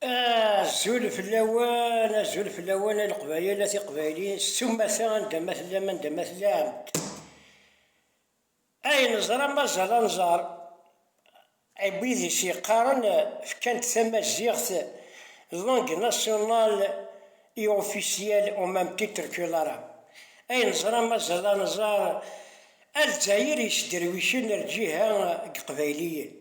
Azul fell-awen, azul fell-awen a Leqbayel, a Tiqbayliyin, s tumata anda ma tellam, anda ma tellam. Ay neẓra mazal ad nẓer, ay wid i s-yeqqaren fkan-d tamaziɣt d langue nationale et officielle au même titre que l'arabe. Ay neẓra mazal ad nẓer a Lezzayer yesderwicen lǧiha n Yeqbayliyen.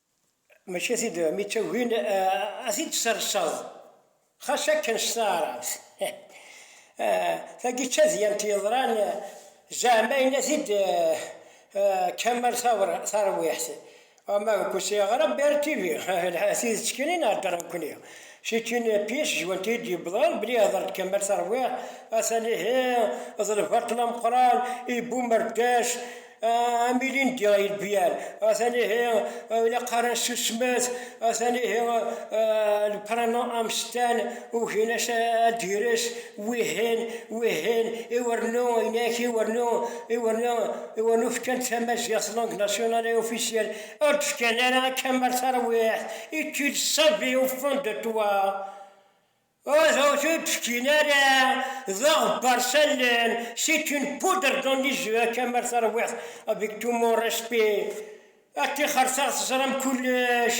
Maca tid mi tt-agin ad t-id-tesserseḍ, xas akken s taɛrabt. Tagi d tadyant yeḍran zeɛma yenna-t-id Kamal Tarwiḥt, ma deg usyaɣer Bear TV, lḥa tidet kan i nhedder nekkni, c'est une pièce jouante i d-yewwḍen belli ihder-d Kamal Tarwiḥt, atan ihi d lbaṭel ameqqran, ibum rdac. Ah, am ilindi ay lbiyal, atan ihi eh, ilaq ara nsusmet, atan ihi eh, lprana amstan, ugin-as ad d-gres wihin, wihin, iwernu, inek, iwernu, iwernu, iwernu fkan tamaziɣt langue nationale et officielle, ur d-fkan ara akka mar tarwiḥt, est-il savé au fond de toi? Ur aɣ-t-id-fkin ara, daɣ bbarsallen, c'est une poudre dans les yeux akka mi ara tarwiḥt, avec tout mon respect, ad tixertaɣ teẓram kullec,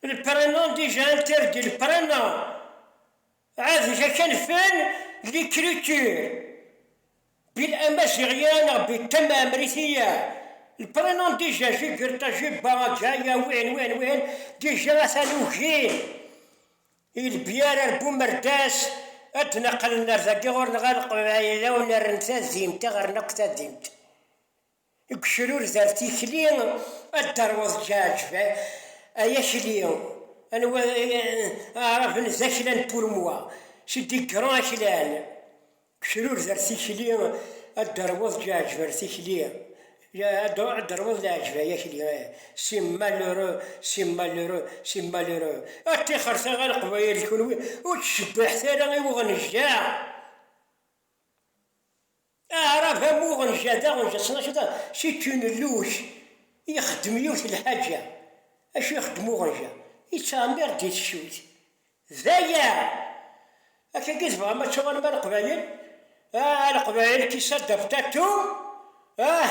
le prénom déjà interdit, le prénom, ɛad ga kan fen l'écriture. Bil Amaziɣ ya neɣ bi Ṭṭem Ɛemriti ya, le prénom déjà Jigirṭa, Jibba, Aǧa, ya win, win, win, déjà atan ugin i lbiyar ar Bumerdas ad d-neqqlen ar dagi ɣur-neɣ ad neqbel iɛdawen rren tadimt, aɣ-rren akk tadimt. Deg ucrured ar tikli ad d-terweḍ Ǧaɛǧeb, ay akli, anwa aɛraben d akla n Purmwa, c'est des grands aklan, deg ucrured ar tikli ad d-terweḍ Ǧaɛǧeb ar tikli, ad d-terweḍ Leɛǧeb ay akli, c'est malheureux, c'est malheureux, c'est malheureux, a tixret a Leqbayel d kunwi ur ttcebbiḥet ara i uɣenjaɛ. Aɛrab am uɣenja d aɣenja tesnakeḍ kečč n lluj ixeddem yiwet lḥaǧa acu ixeddem uɣenja yettɛemir di teccuyt d aya akk-agi i tebɣam ad tuɣalem a leqbayel ah a leqbayel qui s'adapte à tout ah.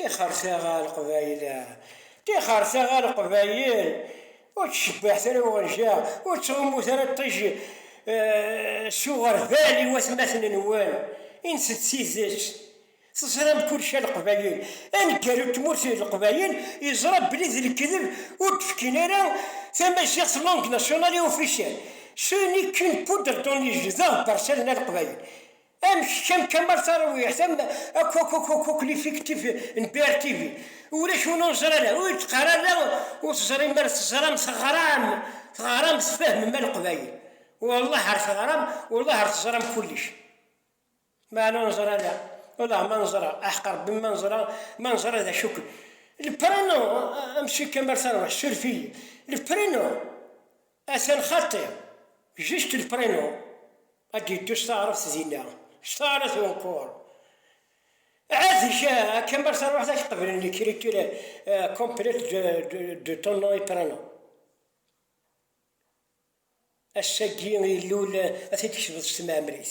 Tixer taɣ a Leqbayel a. Tixer taɣ a Leqbayel, ur ttcebbiḥet ara i uɣenja, ur ttɣummut ara ṭij s uɣerbal i watmaten-nwen, inset d tidet. Teẓram kullec a Leqbayel. Aneggaru n tmurt n Leqbayel yeẓra belli d lekdeb ur d-fkin ara tamaziɣt langue nationale et officielle, ce n'est qu'une poudre dans les yeux d aɣebbar s allen a Leqbayel. Am kečč am Kamal Tarawih am akk akk akk akk akk l'effectif n BRTV ulac win ur neẓri ara ur d-qqar ara ur teẓrim ara teẓram teɣram teɣram tfehmem a leqbayel wallah ar teɣram wallah ar teẓram kullec meɛna ur neẓri ara wallah ma neẓra aḥeq Rebbi ma neẓra ma neẓra d acu ken le prénom a monsieur Kamal Tarawih surveiller le prénom Atan xaṭi, juste le prénom, ad d-yeddu s taɛrabt dinna, s taɛrabt unkour. Ɛad-ik, akka mi ara taruḥeḍ ad k-qeblen l'écriture complète de ton nom et prénom. Ass-agi ilul ad t-id-tkesbeḍ s tmeɛmrit.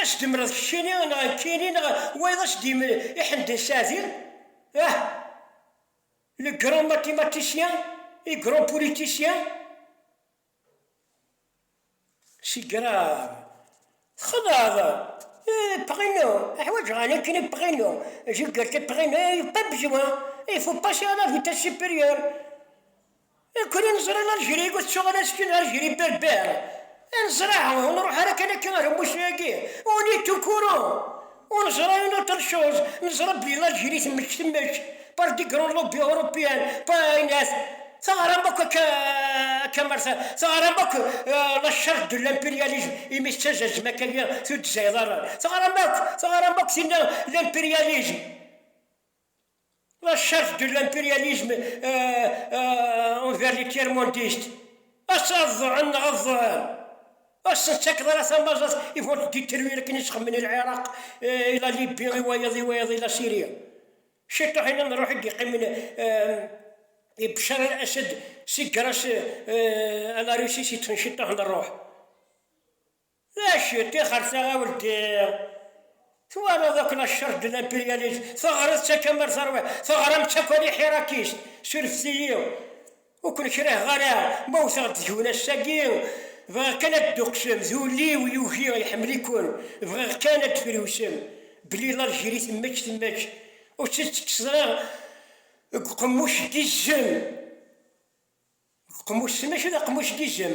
Ad s-d-temleḍ keččini neɣ nekkini neɣ wayeḍ ad s-d-yemel i Ḥemden Saɛdi, ah! le grand mathématicien et grand politicien? C'est grave. Txedɛeḍ. Eh, Pregno, ḥwaǧeɣ ɛni nekkini Pregno, Gilgerte Pregno, eh, pas besoin, il faut passer à la vitesse supérieure. Akk-n i neẓra n Algérie ur tettuɣal as kan ɣer Geri berber, a neẓra ur nruḥ ara kan akka ɣer umusni-agi, on est au courant, ur neẓra une autre chose, neẓra belli Algérie temmečč temmečč par des grands lobbies européens, pa ayen at, teɣram akk akka akka mer ta, teɣram akk la charte de l'impérialisme imi tettazazem akka agi tuddza iḍarren, teɣram akk, teɣram akk tinna l'impérialisme. La chef de l'impérialisme envers les tiers-mondistes. Ass ad ḍuɛen neɣ ad ḍuɛen. Ur sen-ttakeḍ ara tamaẓat, ils vont te détruire akken i tt-xemmen i Lɛiraq, i la Libye, i wayeḍ, i wayeḍ, i la Syrie. Ciṭuḥ-inem n ṛuḥ i d-yeqqimen i Bchar al-Assad si grâce à la Russie si ṭṭfen ciṭuḥ n ṛuḥ. D acu i ṭixer taɣawelt i twalaḍ akk la ccerj de l'impérialisme, teɣriḍ-tt akka mer terwiḍ, teɣram-tt akk a l'iḥirakist, surfet-iyi ur ken-kriheɣ ara ma wteɣ-d deg-wen ass-agi, bɣiɣ kan ad d-tuqsem d ul-iw yugi iḥemmel-iken, bɣiɣ kan ad d-friwsem belli l'Algérie temmečč temmečč ur tt-id-tekkseḍ ara deg uqemmuc n yizem, deg uqemmuc-s mačči d aqemmuc n yizem.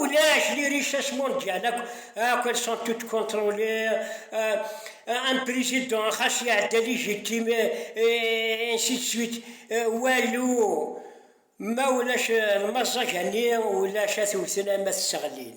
Ulac, les richesses mondiales, akk elles sont toutes contrôlées, euh, un président, xas iɛedda légitime, et ainsi de suite, euh, walou, ma ulac lmaẓẓaga-nni, ulac at wten ama tesseɣlin.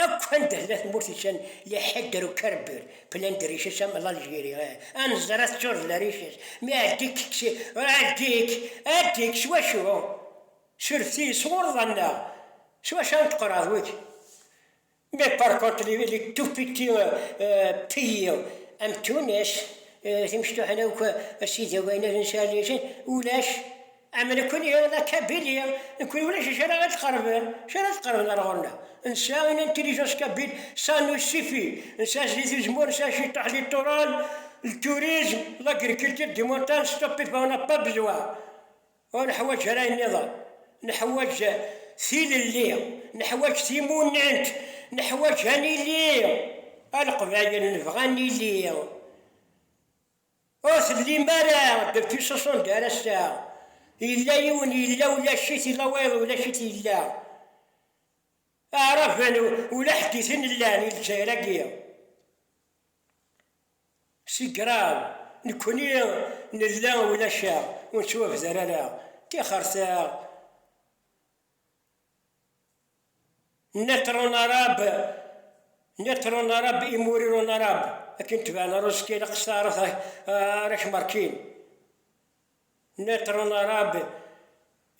Akk anda tella tmurt yeččan leḥder ukerbir, plein de richesses am l'Algérie, ah, neẓra teččureḍ d lariches, mi ɛeddi-k, ɛeddi-k, ɛeddi-k, s wacu? Surfet-iyi, sɣureḍ annaɣ, s wacu ara neṭqer ɣer wik? Mais par contre les, les tout petits pays am Tunes, timecṭuḥin akk, a sidi, a sidi, ulac. Am nekkni d akabili, nekkni ulac acu ara ɣ-d-qerben, acu ara d-qerben ar ɣur-neɣ? Nesɛa une intelligence kabile, ça nous suffit, nesɛa sdid uzemmur, nesɛa ciṭuḥ littoral, le tourisme, l'agriculture des montagnes, stop et va, on n'a pas besoin, ur neḥwaǧ ara ayen nniḍen, neḥwaǧ tilelli, neḥwaǧ timunent, neḥwaǧ ad nili, a Leqbayel nebɣa ad nili. Ur tellim ara depuis soixante ar ass-a, yella yiwen yella ulac-it, yella wayeḍ ulac-it yella. Aɛraben ula ḥedditen llan i Lezzayer-agi. C'est grave, nekkni nella ulac-aɣ, ur nettwabder ara, ṭixret-aɣ. Nitron arab, nitron arab, imuriron arab, akin tebɛen ara uẓekki ilaq s taɛrabt ara k-markin. Nitron arab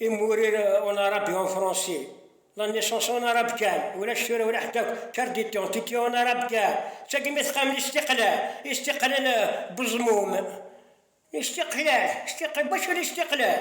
et mourir en arabe et en français. La naissance en arabe kan, ulac tura wala ḥedd akk, carte d'identité en arabe kan, d tagi mi teqqamem istiqlal, istiqlal bu ẓmum, istiqlal, istiqlal, d wacu n istiqlal?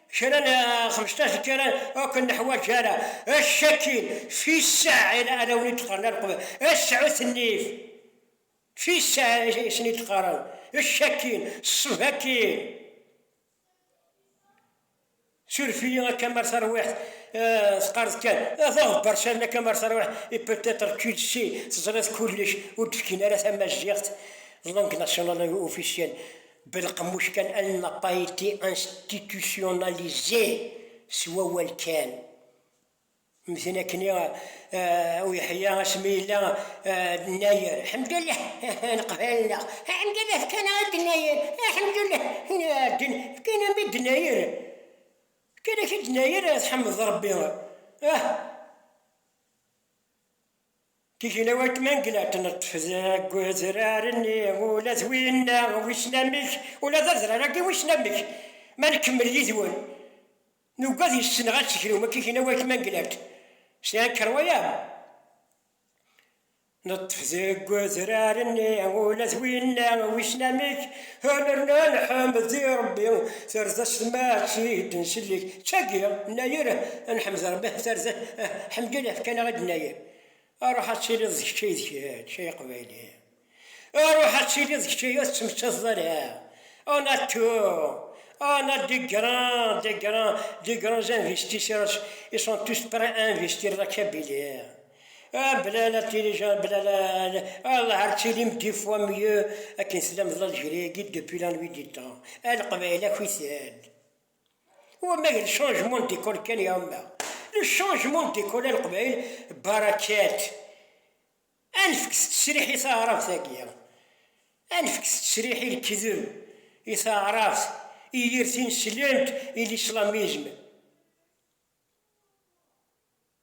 Kra n xmesṭac n kra ur ken-neḥwaǧ ara, ečč akin fissaɛ i arraw n yidqaren ara qeblen, ečč sɛut nnif, fissaɛ i sen-id-qqaren, ečč akin, ṣṣeb akin, suref-iyi akka mar tarwiḥt teqqareḍ kan, d aɣebbar sani akka mar tarwiḥt et peut-être tu le sais, teẓriḍ kullec, ur d-fkin ara tamaziɣt d langue nationale officielle, Belqemmuc kan elle n'a pas été institutionnalisée s wawal kan. Mten akni u Yeḥya asmi yella nnayer Ḥemdullah leqbayel-nneɣ, Ḥemdullah fkan-aɣ idnayer, Ḥemdullah ddin fkan-am idnayer, fkan-ak idnayer tḥemdeḍ Rebbi ah. Tigla weltma n glat neṭṭef deg udrar-nni, ula d winna wissen amek, ula d adrar-agi wissen amek, ma nkemmel yid-wen, nugad yes-nneɣ ad tegrum, akka i gla weltma n glat, sɛiɣ kṛwaya, neṭṭef deg udrar-nni, ula d winna wissen amek, Anernan Ḥmed di Rebbi tarza s tmaɛt i d-nsellek d tagi, Nnayer a Nḥmed Rebbi tarza Ḥemdullah fkan-aɣ i d-Nnayer Aruḥ ad tiliḍ d kečč ay d kečč ay Aqbayli Aruḥ ad tiliḍ d kečč ay Ur tettmettazeḍ ara a Nattu a Nat des grands des grands des grands investissersIs sont tous prêts à investir la Kabylie. Ah, bla la télécharge, bla la, la- Allah ar tilim dix fois mieux akken tlameḍ algérie depuis la nuit du temps. A leqbayel ak uthal. Wa ma le changement d'école kan ya ma. Le changement d'école a leqbayel barakat. A nefk s tesriḥ i taɛrabt agi. A nefk s tesriḥ i lekdeb, i taɛrabt, i yir tineslemt, i l'islamisme.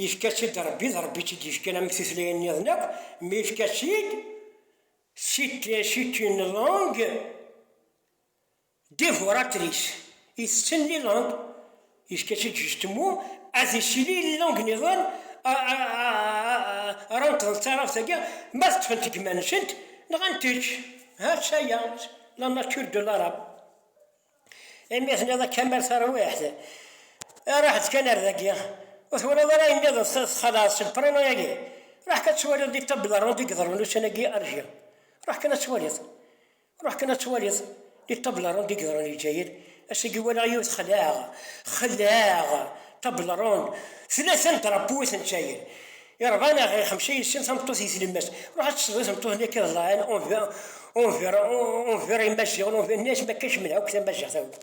Yefka-tt-id Rebbi, d Rebbi i tt-id-yefkan am tutlayin nniḍen akk, mi yefka-tt-id, c'est une langue dévoratrice, itetten langue, yefka-tt-id justement ad isili langue nniḍen ara neṭḍen d taɛrabt-agi, ma ad ṭṭfent deg yiman-nsent, nɣant-tt, ha-tt-aya, la nature de l'arabe. imi tenniḍ akka am tarwiḥt, ruḥ-d kan ar dagi, ur twalaḍ ara ayen nniḍen txalaḍ seg prana-agi, ruḥ kan ad twaliḍ di table ronde i yeḍrun ussan-agi ar jir, ruḥ kan ad twaliḍ, ruḥ kan ad twaliḍ di table ronde i yeḍrun di Lezzayer, ass-agi walaɣ yiwet xelɛeɣ, xelɛeɣ table ronde, tlata n drapeau i ten-Lezzayer, Irḍa neɣ ixemsa yessen tameṭṭut di tlemmast. Ruḥ ad tesleḍ i tmeṭṭut-nni akka iḍlaɛen, unver imaziɣen, unver nni-as mi akka kemmel akk tamaziɣt akk.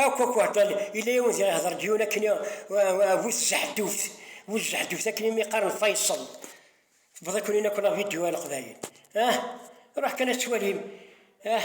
Akk akk hḍan, yella yiwen diɣ ihḍer-d yiwen akken i bu tzeḥduft, bu tzeḥduft akken imi qqaren Faisal. Tewweḍ-iken-in akk la vidéo a leqbayel ah! Ruḥ kan ad twalim ah!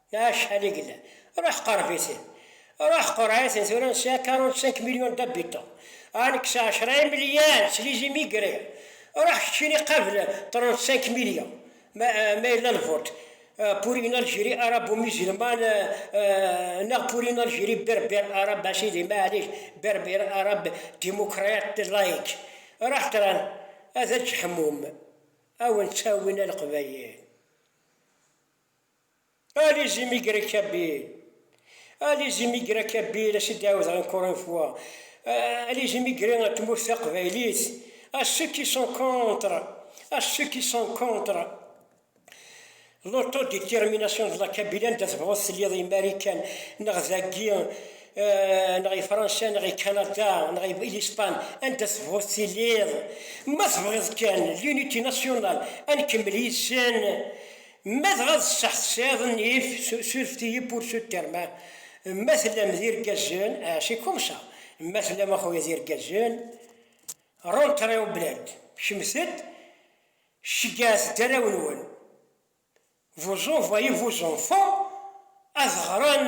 Acḥal i yellan? Ruḥ qerreb-iten. Ruḥ qurreɛ-iten tura nesɛa 45 millions d'habitants. Ah nekk sɛa cra imelyar s les immigrés. Ruḥ keččini qqabel 35 millions ma ma yella lvot pour une Algérie arabo-musulmane neɣ pour une Algérie berbère arabe a sidi maɛlic berbère arabe démocrate laïque. Ruḥ tura ad aǧ-ḥmum. A wen-ttawin a leqbayel. Allez imigrer Kabyle Allez imigrer Kabyle ass i d-ɛawdeɣ encore une fois Allez imigrer ar tmurt taqbaylit à ceux qui sont contre à ceux qui sont contre l'autodétermination de la Kabyle anda tebɣuḍ tiliḍ imarikan neɣ dagi neɣ i Fransa neɣ i Kanada neɣ i Lispan anda tebɣuḍ tiliḍ ma tebɣiḍ kan l'unité nationale ad nkemmel yid-sen Ma dɣa d sseḥ tesɛiḍ nnif, surfet-iyi pour ce terme. Ma tellam d irgazen, c'est comme ça. Ma tellam a xuya d irgazen, rentrez au bled, kecmet-d, ceggɛet-d arraw-nwen, vous envoyez vos enfants ad ɣren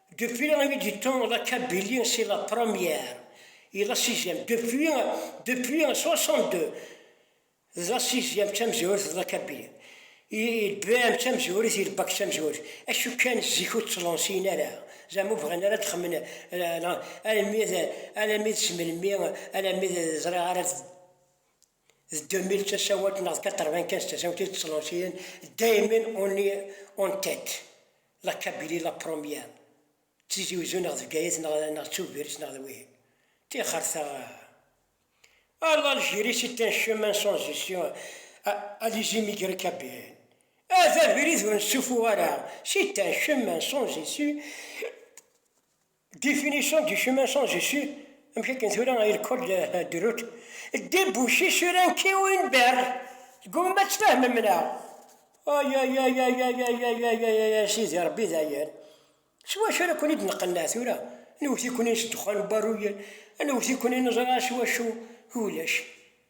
Depuis imi d-yettuneḍ akka Billy si la première i la sixième depuis depuis 62 d la sixième d tamezwarut d la kabili i lbam d tamezwarut i lbak d tamezwarut acu kan zik ur ttlansiyen ara zama ur bɣin ara ad xemmen almi d almi d s melmi almi d ẓriɣ ara D 2000 d tasawalt neɣ d 95 d tasawalt i d-ttlansiyen Damon on est en tête, la Kabylie la première, d Tizi Uzzu neɣ d Bgayet neɣ neɣ d Tubiret neɣ d wihin. Tixer taɣ. A l'Algérie c'est un chemin sans issue a a les immigrés kabylien a d abrid ur nessufuɣ ara c'est un chemin sans issue. Définition du chemin sans issue, amek akken tura ay lekol de route, débouché sur un quai ou une berge, tgumam ad tfehmem neɣ? Ayayayayayayayayayayay a sidi Rebbi dayen s wacu ara ken-id-nqenneɛ tura, newwet-iken-in s ddexxan n uberruy, newwet-iken-in neẓra s wacu, ulac.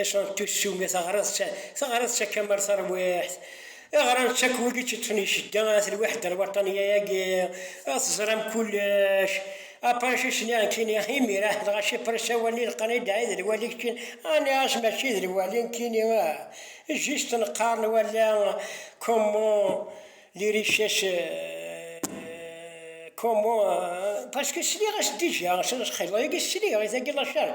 Iṣeṛ tussu mi teɣṛiḍ-ţ, teɣṛiḍ-ţ akka mer taṛwiḥt. I ɣṛan-ţ akk wid i ţ-iṭṭfen i cedda, at lweḥd lwaṭṭanya-agi, a teẓṛam kullec. A Pṛac i s-nniɣen kini, Imir ah, dɣa si Pṛac awal-nni leqqan i dɛi d lwali keččin, a nniɣ-as mačči d lwali nekkini ah, juste neqqaṛen wala comment les richesses comment, parce que sliɣ-as déjà, s lxiḍ-agi sliɣ i tagi la charge.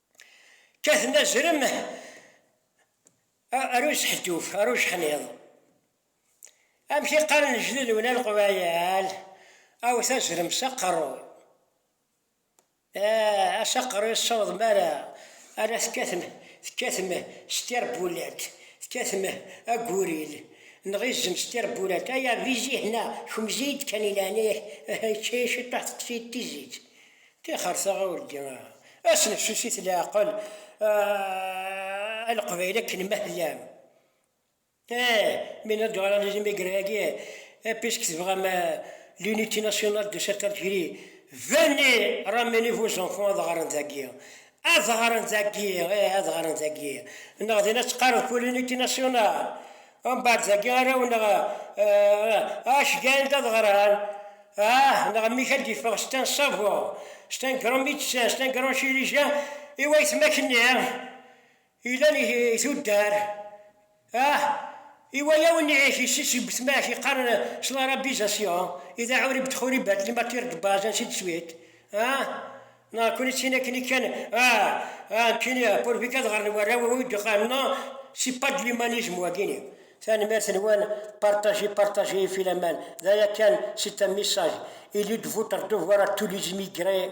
Kkaten azrem ar useḥduf, ar ujeḥniḍ. Amek i qqaren lejdud-wen a leqbayal, awet azrem s aqerru. Ah, s aqerru i tessawḍem ara, ara tekkatem, tekkatem s tirebbulat, tekkatem aguril, neɣ izem s tirebbulat, ay abizih-na, kemzi-yi-d kan i leɛnaya-k, ah, yečča-yi ciṭuḥ teṭṭef-iyi-d tizit. Tixer taɣawli, a snefsusit leɛqel, a Leqbayel akken ma tellam. Eh, mi nella deg analyse imigran-agi, eh, puisque tebɣam l'unité nationale de cette Algérie, venez ramener vos enfants ad ɣren dagi, Ad ɣren dagi, ih, ad ɣren dagi. Neɣ din ad teqqareḍ Polémique nationale. Umbeɛd dagi ara wen neɣ acu gan-d ad ɣren, ah, neɣ mmi-k ad d-iffeɣ c'est un savant, c'est un grand médecin, c'est un grand chirurgien i wayetma-k-nni. Ilan i tuddar, ah, i waya ur n'ic i ssi seg wetmac i qqaren s l'arabisation, i d aɛurib d'xuribat li matière de base ainsi de suite, ah, neɣ kuni d tin akken i kan, ah, ah, nekkini pour vi kad ɣren warraw i wid qqaren non, c'est pas de l'humanisme wagini. Tanemmirt-nwen, partagez, partagez ifi la main, d aya kan, c'est un message, il est de votre devoir à tous les immigrés,